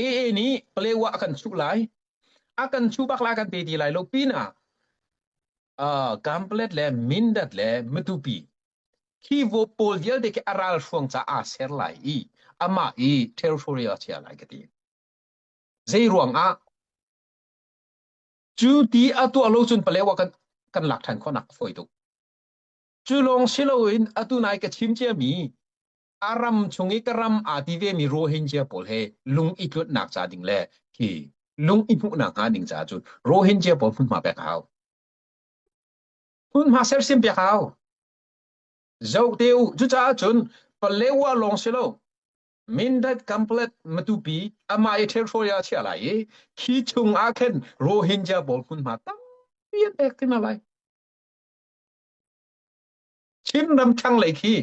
AA nih Palewa a kan chuh lai a kan chuh bak lai kan te ti lai lo pinah uh, Gamlet le Mindat le Matupi khivo pawl vialte ke a ral hruang caah ser lai i amah i territory a chia lai ka ti zei ruang ah cu ti a tuah lo cun palewa kan kan lak than khonak a foi tuk cu lawng si lo in atu nai ka chim cia mi a ram chung i ka ram aa ti vemi Rohingya pawl he lung i tlutnak ca ding le hi lung i hmuhnak hnga ding caah cun Rohingya pawl hmunhma pek a hau. Hmunhma sersim pek a hau. Zoh te u, cucaah cun Palewa lawng si lo, Mindat Kamplet Matupi amah i ṭhenhrawi ah chiah lai i khi chung ah khin Rohingya pawl hmunhma tampi an pek hrim a lai. Chin ram thlanglei khi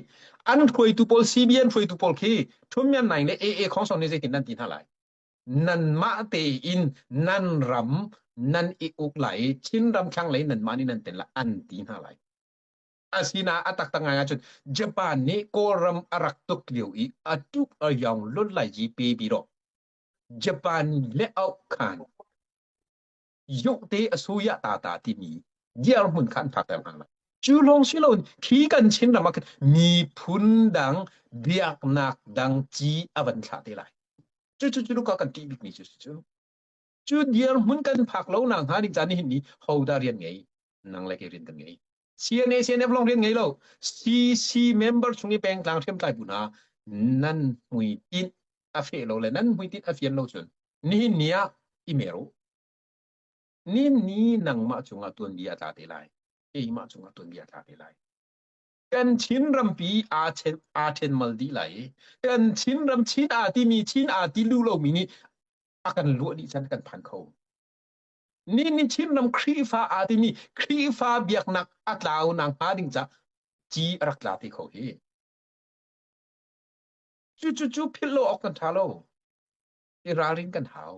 an hruaitu pawl CBN hruaitu pawl khi ṭhumyan nai le AA Khongson nih zeitin nan ti hna lai nan mah tein nan ram nan i uk lai i Chin ram thlanglei nan mah nih nan ten lai an ti hna lai asina a taktak ngai ahcun Japan nih Kawlram a rak tuk lio i a tuk a yong lun lai ji pe bi ro Japan le Auk Khan yokte asuya ta ta timi diar mun khan phak ter hang cu long si lo khi kan chin ram ak mi phun dang biak nak dang chi avan thla te lai chu chu chu ka kan ti bik mi chu chu chu diar mun kan phak lo na nga ning chan ni hin ni hoda rian ngei nang le ke rin kan ngei CNA CNF long rian ngei lo CC member chung i pengtlang hriamtlai bu hna nan hmui tinh a feh lo le nan hmui tinh a fian lo cun nihin ni ah i mer u nin ni nangmah cungah tuanbia tla te lai keimah cungah tuanbia tla te lai kan chin rampi aa chen aa chen mal dih lai i kan chin ram chin aa timi chin aa ti lu lomi nih a kan luah dih can kan phan kho Nihin Chinram Khrihfa aa timi Khrihfa biaknak a tlau nak hnga ding ca ci a rak tla te kho hi. Cu cu cu philh lo awk kan tha lo. I ralrin kan hau.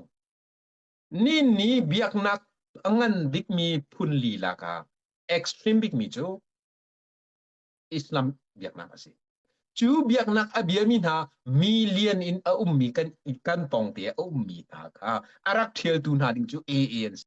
Nin ni biaknak a ngan bikmi phun lila ka extreme bikmi cu Islam biaknak a si. Cu biaknak a biami hna million in a ummi kan kan pawngte a ummi hna kha a rak ṭhialtu hna ding cu AA an si.